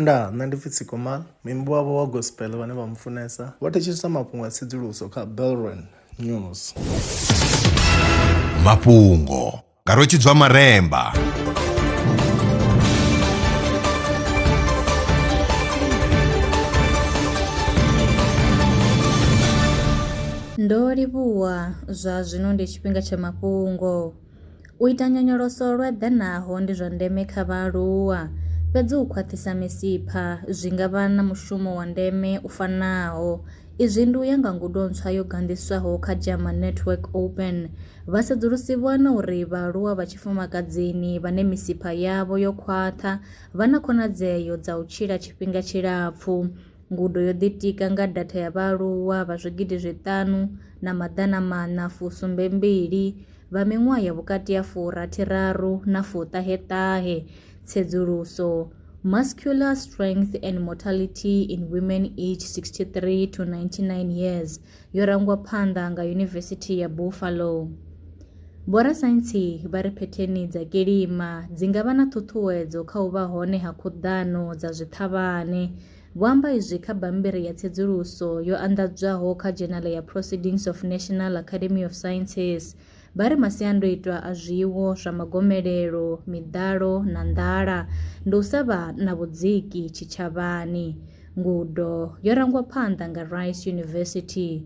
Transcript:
Ndaa, nṋe ndi pfi Tsikomal, muimbi wavho wa gospel vhane vha mufunesa, vho thetshelesa mafhungo a tsedzuluso kha Belron News. Mafhungo nga Rwetshidzwa Maremba. Ndo livhuwa, zwa zwino ndi tshifhinga tsha mafhungo. U ita nyonyoloso lwo eḓanaho ndi zwa ndeme kha vhaaluwa, fhedzi u khwaṱhisa misipha zwi nga vha na mushumo wa ndeme u fanaho. Izwi ndi u ya nga ngudo ntswa yo ganḓiswaho kha Jama Network Open. Vha sedzulusi vho wana uri vhaaluwa vha tshifumakadzini vhane misipha yavho yo khwaṱha vha na khonadzeo dza u tshila tshifhinga tshilapfu. Ngudo yo ḓitika nga datha ya vhaaluwa vha zwigidi zwiṱanu na maḓana maṋa fusumbe mbili. vha miṅwaha ya vhukati ha furathiraru na fuṱaheṱahe tsedzuluso muscular strength and mortality in women age 63 to 99 years yo rangwa phanḓa nga yunivesithi ya buffalo vhorasaintsi vha ri phetheni dza kilima dzi nga vha na ṱhuṱhuwedzo kha u vha hone ha khuḓano dza zwiṱhavhane Vho amba izwi kha bammbiri ya tsedzuluso yo anḓadzwaho kha dzhenala ya Proceedings of National Academy of Sciences. Vha ri masiandoitwa a zwiwo zwa magomelelo, miḓalo na nḓala ndi u sa vha na vhudziki tshitshavhani. Ngudo yo rangwa phanḓa nga Rice University.